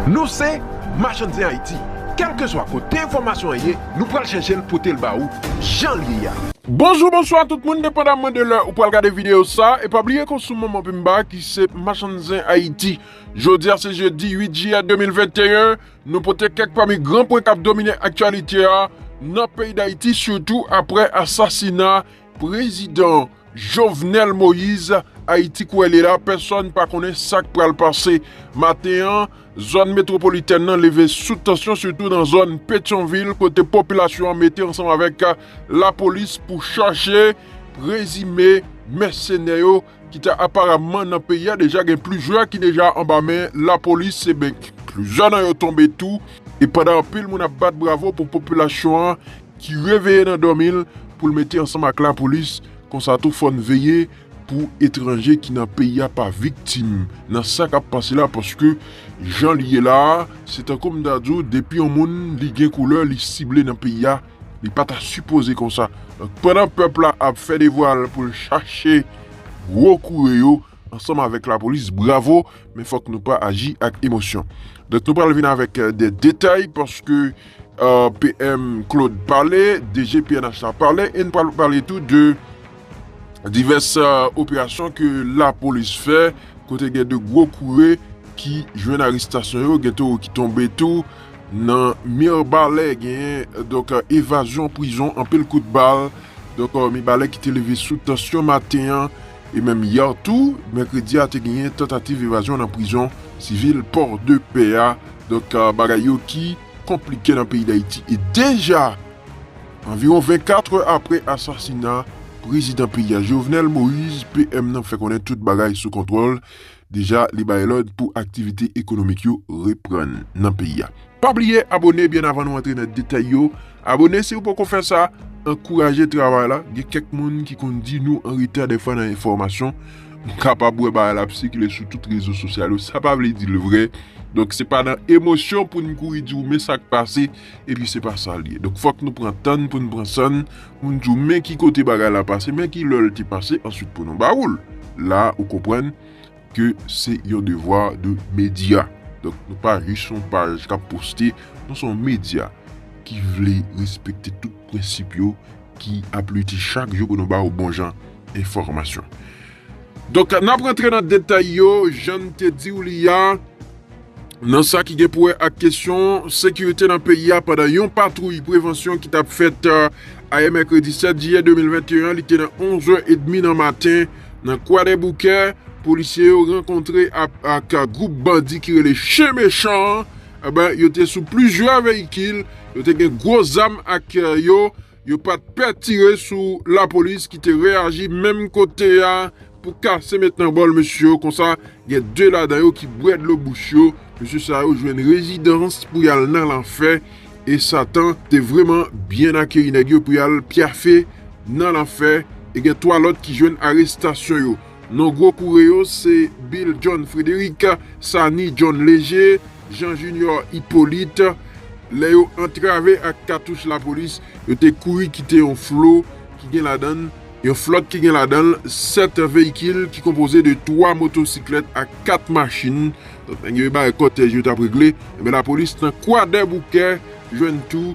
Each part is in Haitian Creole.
Nou se Machann Zen Ayiti, kèlkeswa kote enfòmasyon an ye, nou pral chèche l pote l ba ou jan l ye a. Bonjou bonswa tout moun depandamman de lè ou pral gade videyo sa e pa bliye ke w sou manman pim ba ki se Machann Zen Ayiti. Jodi a se jedi 8 jiyè 2021, nou pote kèk pami gran pwen kap domine aktyalite a nan peyi Dayiti sitou aprè asasina Prezidan Jovenel Moise, Ayiti kouwè li la, pèsòn pa konnen sak pral pase. Maten an, zòn metwopolitèn nan leve sou tansyon sitou nan zòn Petyonvil kote popilasyon an mete ansanm avèk lapolis pou chache prezime mèsenè yo ki ta aparamman nan peyi a deja gen plizyè ki deja anba men lapolis e ben plizyè nan yo tonbe tou e pandan anpil moun ap bat bravo pou popilasyon an ki reveye nan dòmi l pou l mete ansanm ak lapolis konsa tou fò n veye pou etranje ki nan peyi a pa viktim nan sa k ap pase la paske jan l ye la a se tankou m ta di w depi yon moun li gen koulè li sible nan peyi a. Li pa ta sipoze konsa. Donk pandan pèp la ap fè devwa l pou l chache gwo koure yo ansanm avèk lapolis bravo men fòk nou pa aji ak emosyon. Donk nou pral vin avèk de detay paske PM Claude pale, DG pnh la pale e nou pral pale tou de divès operasyon ke lapolis fè kote gen de gwo koure ki jwenn arestasyon yo, gen tou ki tonbe tou Nan Mirbalè genyen donk evazyon prizon anpil kout bal donk Mibalè ki te leve sou tansyon maten an e menm yè tou mèkredi a te genyen tantativ evazyon nan prizon sivil Pòdepè a donk bagay yo ki konplike nan peyi Dayiti e deja anviwon 24 è apre asasina prezidan peyi a Jovenel Moïse PM nan fè konnen tout bagay sou kontwòl Deja li bay lòd pou aktivite ekonomik yo reprann nan peyi a. Pa bliye abone byen avan nou antre nan detay yo, abone siw poko fè sa, ankouraje travay la, gen kèk moun ki konn di nou anreta dèfwa nan enfòmasyon, m kapab wè bagay la ap sikile sou tout rezo sosyal yo sa pa vle dil vrè, donk se pa nan emosyon poun kouri diw men sak pase. epi se pa sa l ye. Donk fòk nou pran tan n pou n pran san n, pou n di w men ki kote bagay la pase, men ki lè l te pase answit pou nou ba ou l. La ou konprann ke se yon devwa de medya. Donk nou pa jis yon paj k ap poste, nou se yon medya ki vle respekte tout prensip yo, ki ap lite chak jou pou nou ba ou bon jan enfòmasyon. Donk, n ap rantre nan detay yo, jan n te di w li a, nan sa ki gen pou wè ak kesyon sekirite nan peyi a pandan yon patwouy prevansyon ki t ap fèt ayè mèkredi 7 jiyè 2021. Li te nan onzè edmi nan maten nan Kwadèboukè. Polisye yo rankontre ak gwoup bandi ki rele Chen Mechan an. Yo te sou plizyè veyikil, yo te gen gwo zam ak yo. Yo pa t pè tire sou lapolis ki te reyaji menm kote a pou kase met nan bòl mesye yo konsa gen 2 ladan yo ki bwè dlo bouch yo, mesye sa yo jwenn rezidans pou y al nan lanfè e satan te vreman byen akeyi nèg yo pou y al pyafe nan lanfè e gen 3 lòt ki jwenn arestasyon yo. Non gwo koure yo se Bill John Frédéric, Sani John Léger, Jean Junior Hyppolite. Lè yo antrave ak katouch lapolis, yo te kouri kite yon flo ki gen ladan l, yon flòt ki gen ladan l 7 veyikil ki konpoze de 3 motosiklèt ak 4 machin. Donk nèg yo e bagay kòtèj yo t ap regle. Enben lapolis nan Kwadèboukè jwenn tou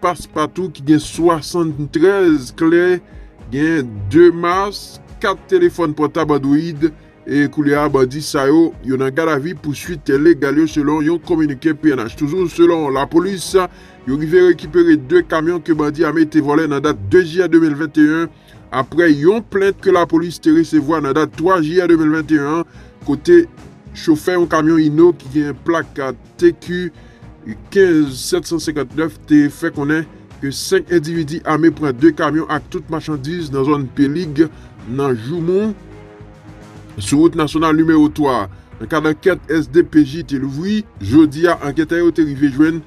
Passepartout ki gen 73 kle, gen 2 mas, 4 telefòn pòtab Android e koulye a bandi sa yo, yo nan gadavi pou swit legal yo selon yon kominike pnh. Toujou selon lapolis, yo rive rekipere 2 kamyon ke bandi ame te vòlè nan dat 2 jiyè 2021. aprè yon plent ke lapolis te resevwa nan dat 3 jiyè 2021 an kote chofè yon kamyon Hino ki gen plak TQ 15759 te fè konnen ke 5 endividi ame pran 2 kamyon ak tout machandiz nan zòn Pelig nan Joumou sou wout nasyonal nimewo 3 a. Nan kad ankèt SDPJ te louvri jodi a anketè yo te rive jwenn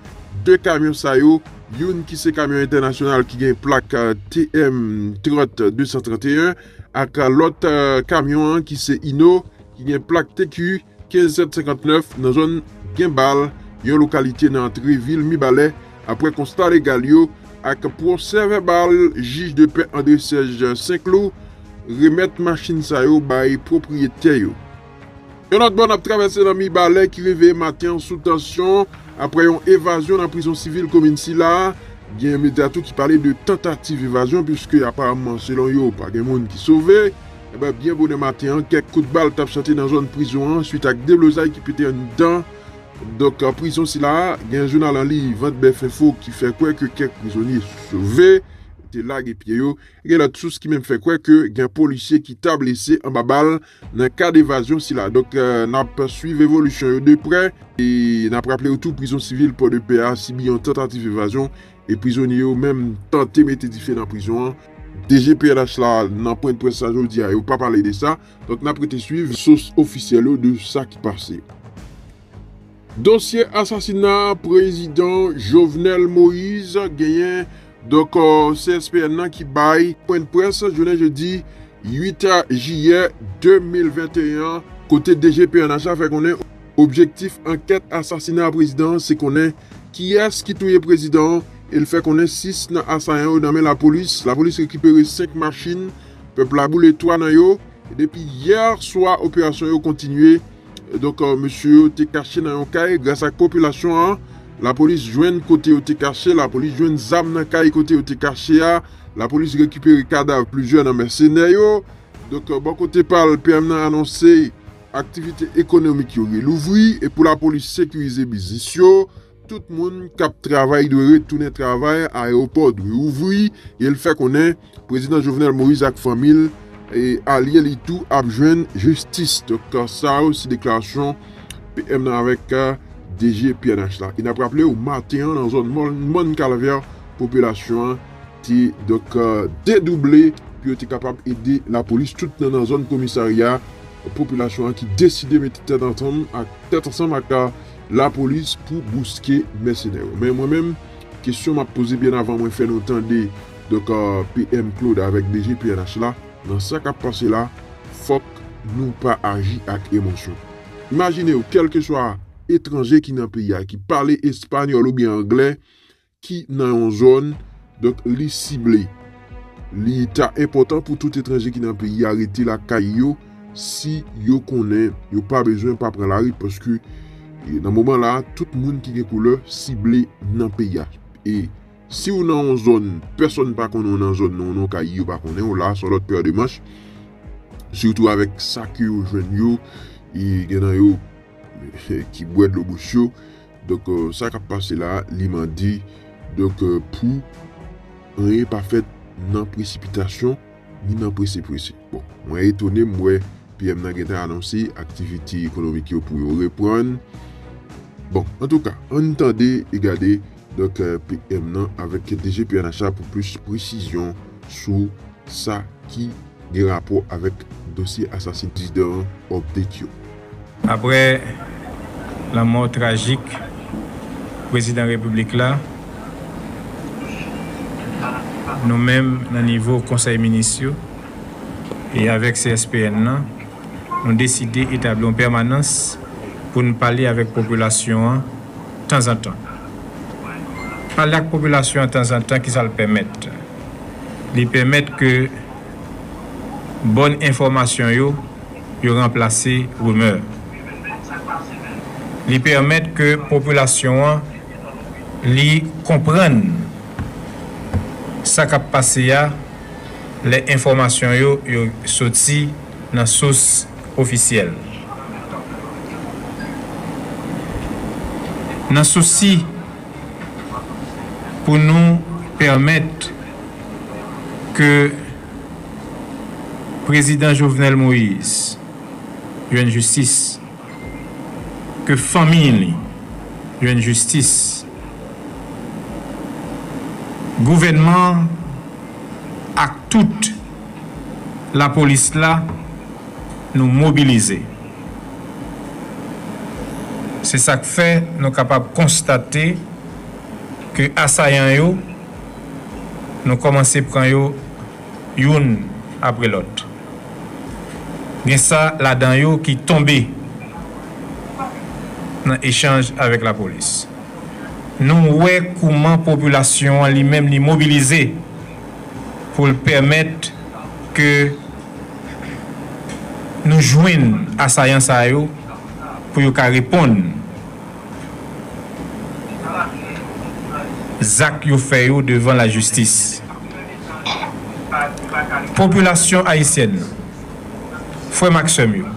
2 kamyon sa yo Youn ki se kamyon entènasyonal ki gen plak TM 30 231 ak lòt kamyon an ki se Hino ki gen plak TQ 15 759 nan zòn Genbal, yon lokalite nan antre vil Mibalè aprè konsta legal yo ak pwosè vèbal jij de pè André Serge St-Cloud remèt machin sa yo bay pwopriyetè yo. Yon lòt bò n ap travèse nan Mibalè ki reveye maten an sou tansyon aprè yon evazyon nan prizon sivil komin sila. Gen medya tou ki pale de tantativ evazyon puiske aparamman selon yo pa gen moun ki sove. Enben byen bonè maten an kèk kout bal t ap chante nan zòn prizon an suit ak deblozay ki pete anndan donk prizon sila. Gen jounal an liy Vantbèfinfo ki fè kwè ke kèk prizonye sove te lage pye yo. Gen lòt sous ki menm fè kwè ke gen polisye ki ta blese anba bal. Nan kad evazyon sila, donk n ap swiv evolisyon yo de prè e n ap raple ou tou prizon sivil Pòdepè a sibi yon tantativ evazyon e prizonye yo menm tante mete dife nan prizon an. DG pnh la nan pwen de près la jodi a yo pa pale de sa, donk n ap rete swiv sous ofisyèl yo de sa ki pase. Dosye asasina prezidan Jovenel Moise genyen donk CSPN nan ki bay pwendprès jounen jedi 8 jiyè 2021 an kote DG pnh la fè konnen objektif ankèt asasina prezidan an se konnen kiyès ki touye prezidan an e l fè konnen 6 nan asayan yo nan men lapolis, lapolis rekipere 5 machin, pèp la boule 3 nan yo e depi yè swa operasyon yo kontinye. Donk, mesye yo te kache nan yon kay, gras ak popilasyon an, lapolis jwenn kote yo te kache, lapolis jwenn zam nan kay kote yo te kache a, lapolis rekipere kadav plizyè nan mèsenè yo. Donk, bò kote pa l, PM nan anonse aktivite ekonomik yo relouvri e pou lapolis sekirize biznis yo. Tout moun kap travay dwe retounen travay, ayewopò dwe ouvri, e l fè konnen Prezidan Jovenel Moïse ak fanmi l e alye li tou ap jwenn jistis. Donk sa yo se deklarasyon PM nan avèk DG pnh la. E n ap raple w maten an nan zòn mòn kalvè popilasyon an te donk dedouble pou yo te kapab ede lapolis tout nan nan zòn komisarya popilasyon an ki deside mete tèt ansanm ak tèt ansanm ak la police pou bouske mèsenè yo men mwen menm kesyon map poze byen avan mwen fè nou tande donk PM Claude avèk DG pnh la nan sa kap pase la fòk nou pa aji ak emosyon imajinew kèlkeswa etranje ki nan peyi a ki pale espanyòl oubyen anglè ki nan yon zòn, donk li sible. Li ta enpòtan pou tout etranje ki nan peyi a rete lakay yo si yo konnen yo pa bezwen pa pran lari paske nan moman la a tout moun ki gen koulè sible nan peyi a. E si w nan yon zòn pèsòn pa konnen w nan zòn nan, w nan yon kay yo pa konnen w, la a se yon lòt pè de manch sitou avèk sa ke yo jwenn yo e gen nan yo ki bwè dlo bouch yo. Donk sa kap pase la li mande donk pou anyen pa fèt nan presipitasyon ni nan prese prese. Bon mwen etone m wè PM nan gentan anonse aktivite ekonomik yo pou yo reprann. Bon antouka ann tande e gade donk PM nan avèk DG pnh la pou plis presizyon sou sa ki. gen rapò avèk dosye asasin prezidan an update yo. Aprè lanmò trajik prezidan repiblik la, nou menm nan nivo konsèy minis yo e avèk CSPN lan, nou deside etabli yon pèmanans pou n pale avèk popilasyon an tanzantan. Pale ak popilasyon an tanzantan ki sa l pèmèt? Li pèmèt ke bòn enfòmasyon yo yo ranplase rimè. Li pèmèt ke popilasyon an li konprann sa k ap pase a lè enfòmasyon yo yo soti nan sous ofisyèl. Nan sousi. pou nou pèmèt ke Prezidan Jovenel Moïse jwenn jistis, ke fanmi li jwenn jistis, gouvènman an ak tout lapolis la nou mobilize. Se sa k fè nou kapab konstate ke asayan yo, nou kòmanse pran yo youn apre lòt. Gen sa ladan yo ki tonbe nan echanj avèk lapolis. Nou wè kouman popilasyon an li menm li mobilize pou l pèmèt ke. nou jwenn asayan sa yo pou yo ka reponn zak yo fè yo devan lajistis. Popilasyon ayisyèn, frè m ak sè m yo,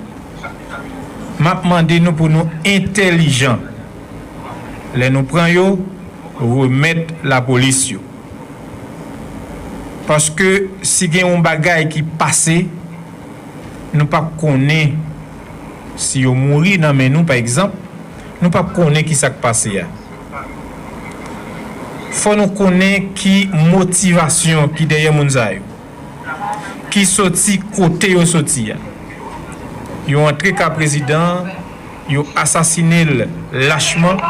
m ap mande nou pou nou entèlijan lè nou pran yo remèt lapolis yo. Paske si gen yon bagay ki pase nou pa p konnen si yo mouri nan men nou pa egzanp nou pa p konnen ki sa k pase a fò nou konnen ki motivasyon ki dèyè moun sa yo ki soti kote yo soti a yo antre ka prezidan an yo asasine l lachman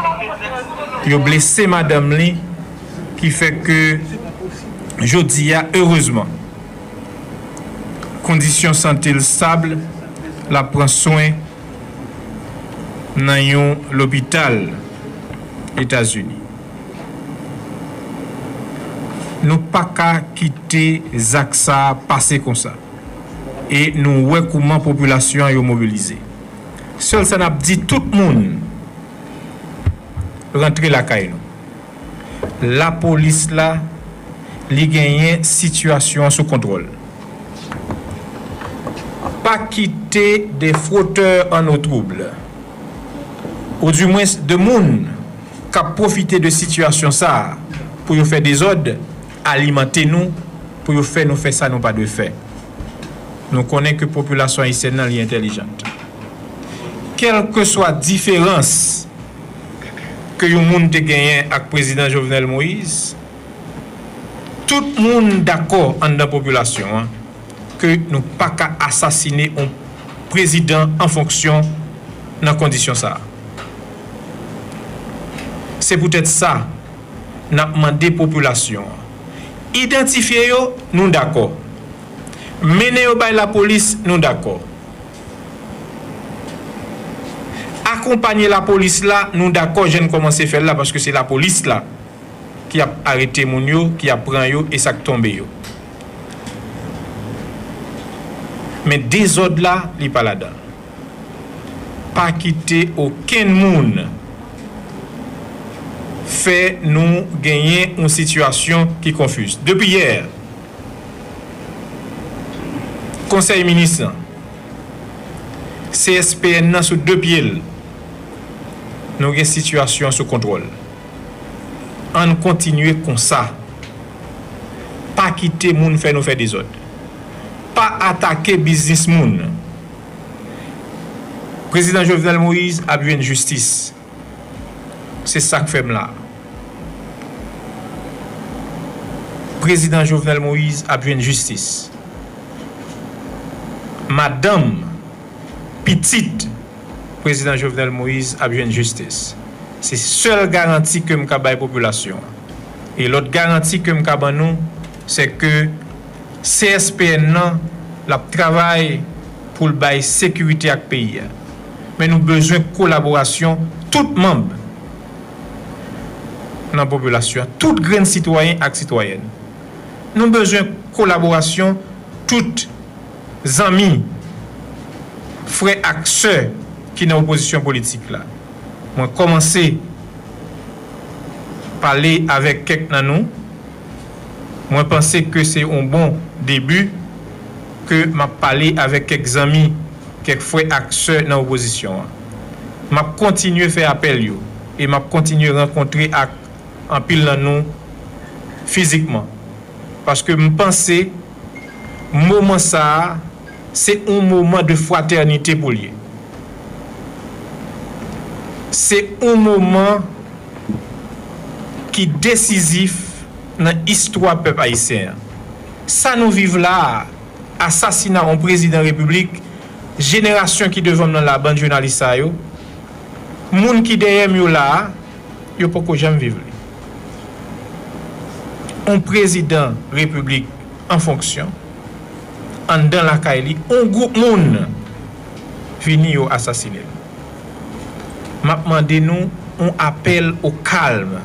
yo blese madanm li. ki fè ke jodi a erezman kondisyon sante l stab, l ap pran swen nan yon lopital Etazini. Nou pa ka kite zak sa pase konsa e nou wè kouman popilasyon yo mobilize. Sèl sa n ap di tout moun rantre lakay nou. lapolis la li genyen sitiyasyon an sou kontwòl. Pa kite des frotteurs en eau trouble ou di mwens de moun k ap pwofite de sitiyasyon sa a pou yo fè dezòd alimante nou pou yo fè nou fè sa nou pa dwe fè. Nou konnen ke popilasyon ayisyèn nan li entelijant. Kèlkeswa diferans. ke yon moun te genyen ak Prezidan Jovenel Moïse, tout moun dakò anndan popilasyon an ke nou pa ka asasine yon Prezidan an fonksyon nan kondisyon sa a. Se poutèt sa n ap mande popilasyon an, idantifye yo, nou dakò. Mennen yo bay lapolis, nou dakò. Akonpanye lapolis la nou dakò jan n kòmanse fè l la paske se lapolis la ki ap arete moun yo ki ap pran yo e sa k tonbe yo men dezòd la li pa ladan l pa kite okenn moun fè nou genyen yon sitiyasyon ki konfiz depi yè. Konsèy Minis lan. CSPN nan sou 2 pye l. Nou gen sitiyasyon an sou kontwòl. Ann kontinye konsa. Pa kite moun fè nou fè dezòd. Pa atake biznis moun. Prezidan Jovenel Moïse ap jwenn jistis. Se sak fè m la. Prezidan Jovenel Moise ap jwenn jistis. Madanm, pitit Prezidan Jovenel Moise ap jwenn jistis. Se sèl garanti ke m ka bay popilasyon an. E lòt garanti ke m ka ban nou, se ke. CSPN nan l ap travay pou l bay sekirite ak peyi a. Men nou bezwen kolaborasyon tout manb nan popilasyon an, tout grenn sitwayen ak sitwayèn. Nou bezwen kolaborasyon tout zanmi, frè ak sè ki nan opozisyon politik la. Mwen kòmanse pale avèk kèk nan nou. Mwen panse ke se on bon debi ke m ap pale avèk kèk zanmi, kèk frè ak sè nan opozisyon an. M ap kontinye fè apèl yo e m ap kontinye rankontre ak anpil nan nou fizikman paske m panse moman sa a se on moman de fratènite pou l ye. Se on moman. ki desizif nan istwa pèp ayisyen an. Sa nou viv la a, asasina on prezidan repiblik, jenerasyon ki devan m nan la a, bann jounalis sa yo, moun ki dèyè m yo la a, yo poko janm viv li. On prezidan repiblik an fonksyon, anndan lakay li, on gwoup moun vini yo asasine l. Map mande nou on apèl o kalm.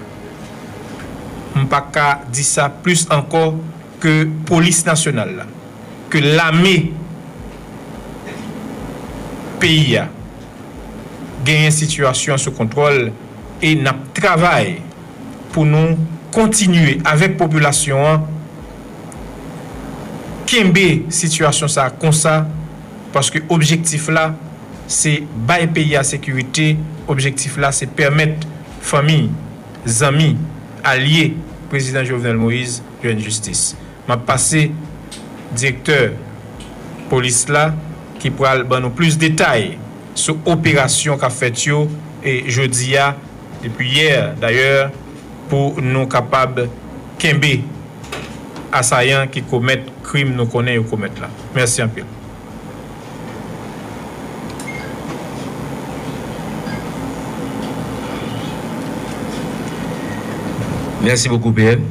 M pa ka di sa plis ankò ke polis nasyonal la, ke lame peyi a genyen sitiyasyon sou kontwòl e nap travay pou nou kontinye avèk popilasyon an kenbe sitiyasyon sa konsa. paske objektif la se bay peyi a sekirite, objektif la se pèmèt fanmi, zanmi, alye Prezidan Jovenel Moïse jwenn jistis. M ap pase direktè polis la ki pral ban nou plis detay sou operasyon k ap fèt yo jodi a, depi yè dayè. pou nou kapab kenbe asayan ki komèt krim nou konnen yo komèt la. Mèsi anpil. Merci beaucoup PM.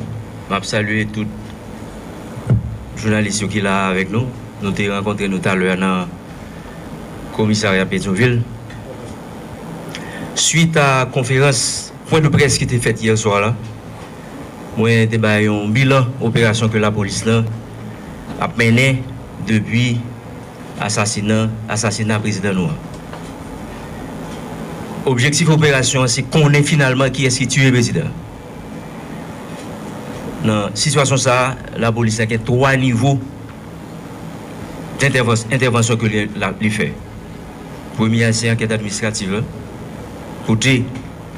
Map salye tout jounalis yo ki la a avèk nou. Nou te rankontre nou talè a nan komisarya Petyonvil. Swit a konferans. Pwen de près ki te fèt yè swa la, mwen te bay yon bilan operasyon ke lapolis lan ap mennen depi asasina asasina prezidan nou an. Objektif operasyon an se konnen finalman kiyès ki tiye prezidan an. Nan sitiyasyon sa a, lapolis la gen 3 nivo entèvansyon ke li fè. Premye a se ankèt administratif la kote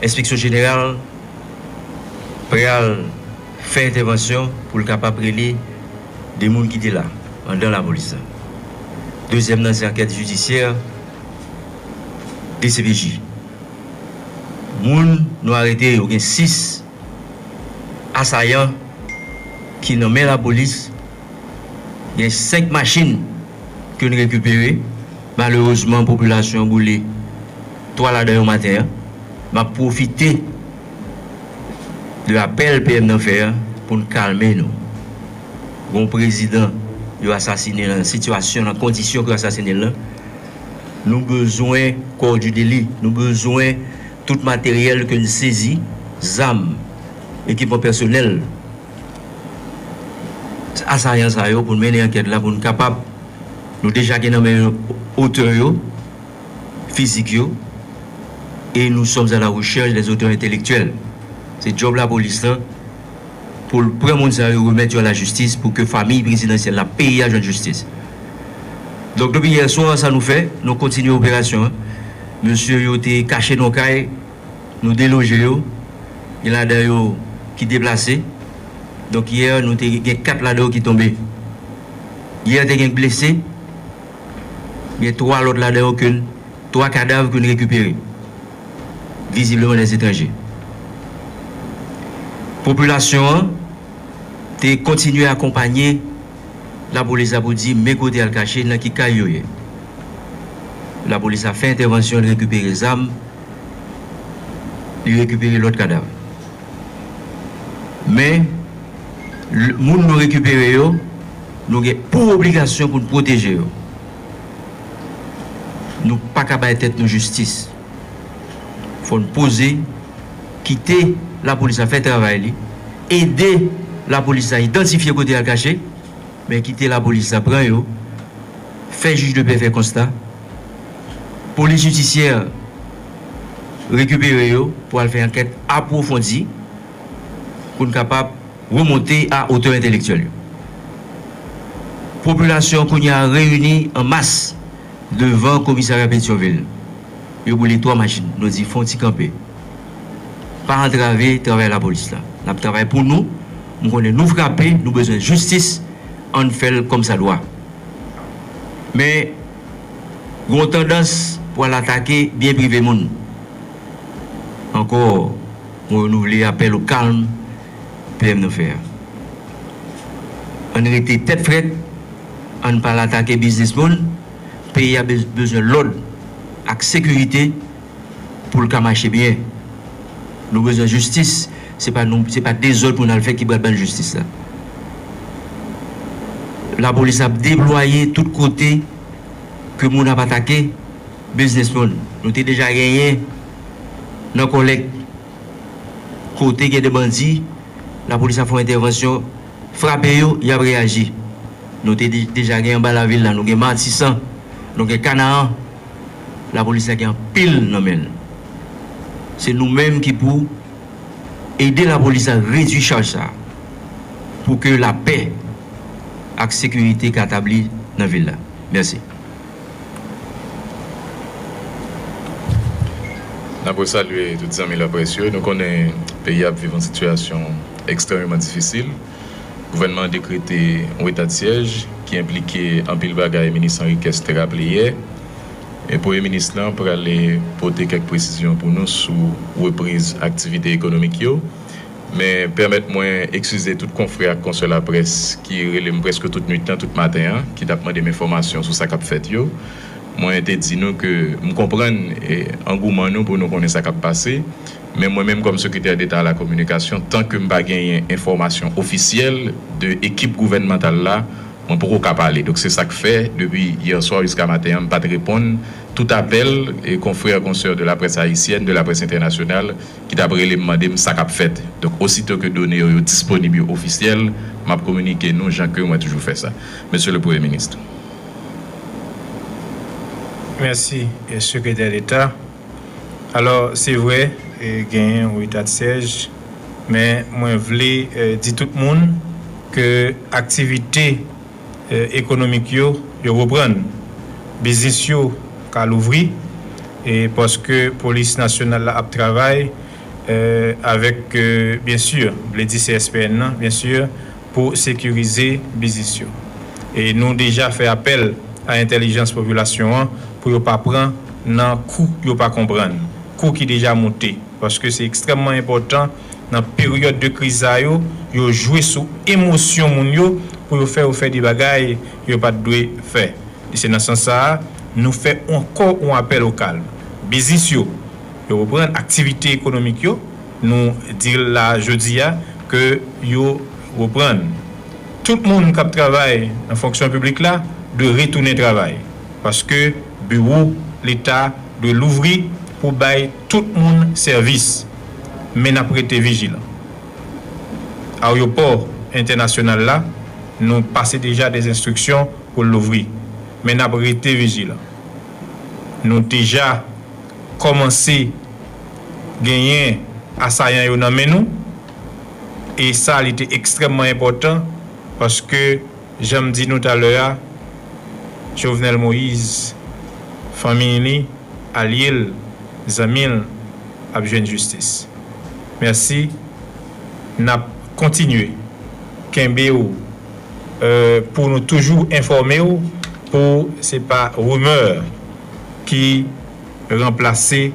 enspeksyon jeneral pral fè entèvansyon pou l kapab rele 2 moun ki te la anndan lapolis la. Dezyèm nan se ankèt jidisyè dcpj. Moun nou arete yo gen 6. Asayan ki nan men lapolis gen 5 machin ke n rekipere, malerezman popilasyon an boule 3 ladan yo maten an. M ap pwofite de apèl PM nan fè an pou n kalme nou. Gon prezidan yo asasine nan sitiyasyon, nan kondisyon ke yo asasine l lan. Nou bezwen kò Judely, nou bezwen tout materyèl ke n sezi, zam, ekipman pèsonèl asayan sa yo pou n mennen ankèt la pou n kapab, nou deja gen nan men nou otè yo, fizik yo, e nou sòms a la rechèch dè zotè entelektyèl. Se djòb lapolis lan. pou l pran moun sa yo remèt yo a la jistis pou ke famiy prezidansyèl la peye a jwenn jistis. Donk depi yè swa sa nou fè, nou kontinye operasyon an. Mesye yo te kache nan yon kay, nou deloje yo, gen ladan yo ki deplase. Donk yè nou te gen 4 ladan yo ki tonbe. Yè te gen k blese, gen 3 lòt ladan yo ke n, 3 kadav ke n rekipere. vizibleman dè etranje. Popilasyon an te kontinye akonpanye lapolis la pou di men kote al kache, nan ki kay yo ye. Lapolis la fè entèvansyon, li rekipere zam, li rekipere lòt kadav. Men, moun nou rekipere yo, nou gen pou obligasyon pou n pwoteje yo. Nou paka bay tèt nou jistis. Fò n poze, kite lapolis la fè travay li, ede lapolis la idantifye kote y al kache, men kite lapolis la pran yo, fè jij de pè fè konsta, polis jidisyè rekipere yo pou al fè ankèt apwofondi pou n kapab. Remonte a otè entelektyèl yo. Popilasyon kounye a reyini an mas devan komisarya Petyonvil. Yo boule 3 machin. Nou di fon ti kanpe. Pa antrave travay lapolis la. N ap travay pou nou. M konnen nou frape, nou bezwen jistis. Ann fè l kòmsadwa. Men, gen yon tandans pou al atake byen prive moun. Ankò, mwen renouvle apèl o kalm PM nou fè a. Ann rete tèt frèt, ann pa al atake biznis moun, peyi a bezwen lòd ak sekirite pou l ka mache byen. Nou bezwen jistis, se pa nou, se pa dezòd pou n al fè ki pral ban n jistis la. Lapolis ap deplwaye tout kote ke moun ap atake biznis moun. Nou te deja genyen nan Kòlèt. Kote gen de bandi, lapolis ap fè yon entèvansyon, frape yo, y ap reyaji. Nou te deja gen anba lavil la, nou gen Matisan, nou gen Kanaran. Lapolis la gen anpil nan men l. Se nou menm ki pou ede lapolis la redui chaj sa a pou ke lapè ak sekirite ka tabli nan vil la. Mèsi. N ap resalye tout zanmi laprès yo. Nou konnen peyi a ap viv yon sitiyasyon ekstrèmeman difisil. Gouvènman an dekrete yon etadsyèj ki enplike anpil bagay, minis Henriquez te raple yè. E Premye minis lan prale pote kèk presizyon pou nou sou repriz aktivite ekonomik yo. Men, pèmèt mwen ekskize tout konfrè ak konsè laprès ki rele m prèske tout nuit lan, tout maten an, ki t ap mande m enfòmasyon sou sa k ap fèt yo. Mwen te di nou ke m konprann angouman nou pou nou konnen sa k ap pase, men mwen menm kòm Sekretè Deta Alakominikasyon, tan ke m pa genyen enfòmasyon ofisyèl de ekip gouvènmantal la, mwen poko ka pale. Donk, se sa k fè, depi hier soir jiska maten an, m pa t reponn tout apèl konfrè, konsè de laprès ayisyèn, de laprès entènasyonal, ki t ap rele m mande m sa k ap fèt. Donk osito ke done yo yo disponib, yo ofisyèl, m ap kominike nou jan ke mwen toujou fè sa, Mesye le Premye Minis. Mèsi, Sekretè Deta. Alò, se vre, genyen yon etadsèj, men mwen vle di tout moun ke aktivite ekonomik yo, yo reprann. Biznis yo ka louvri e paske polis nasyonal la ap travay avèk byen si vle di CSPN nan byen si pou sekirize biznis yo. E nou deja fè apèl a entèlijans popilasyon an pou yo pa pran nan kou yo pa konprann, kou ki deja moute paske se ekstrèmman enpòtan Nan peryòd de kriz sa yo, yo jwe sou emosyon moun yo pou yo fè yo fè de bagay yo pa t dwe fè. E se nan sans sa a, nou fè ankò yon apèl o kalm. Biznis yo, yo reprann aktivite ekonomik yo, nou di la a jodi a ke yo reprann. Tout moun k ap travay nan fonksyon piblik la dwe retounen travay, paske biwo Leta dwe louvri pou bay tout moun sèvis. men n ap rete vijilan. Aryopò entènasyonal la, nou pase deja dè enstriksyon pou l louvri, men n ap rete vijilan. Nou deja kòmanse genyen asayan yo nan men nou, e sa li te ekstrèmman enpòtan paske, Jan m di nou talè a, Jovenel Moise, fanmi li, alye l, zanmi l ap jwenn jistis. Mèsi. N ap kontinye kenbe w pou nou toujou enfòme w pou se pa rimè ki ranplase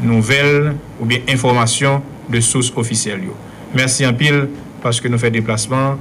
nouvèl oubyen enfòmasyon de sous ofisyèl yo. Mèsi anpil paske nou fè deplasman an.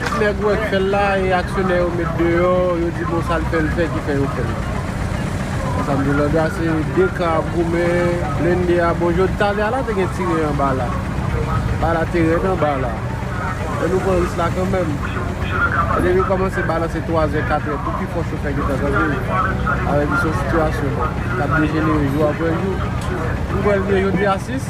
Tout nèg wè k fèl la e aksyonè yo met deyò yo di bon sal fèl fè ki fè yo fèl la Ansam di landa se 2 kan ap goumen blende a bon jodi talè a la te gen tire anba la Ba la te rèd anba la Men nou pran ris la kanmèm E depi kòmanse ba la se 3 zè 4 zè pou pi fò chofè gentan kanpe Avèk di son sitiyasyon kap dejenere jou aprè jou Nou kwèl byen jodi a 6.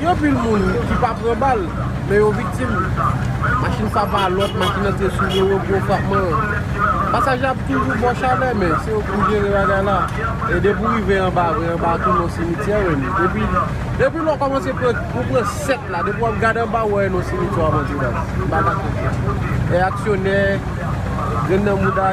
Gen anpil moun ki pa pran bal, men yo viktim li. Machin sa pa lòt, machin antre sou do yo, gwo frapman an. Pasaje ap toujou bò chalè, men se yo pou jere bagay la. E depi ou rive anba vre, anba a tou non simityè menm. Depi lè ou kòmanse pran, ou pran 7 la, depi wap gade anba ou wè non simityè wap antre baz. M pa kache w sa. Reyaksyonè, grenn nan mouda.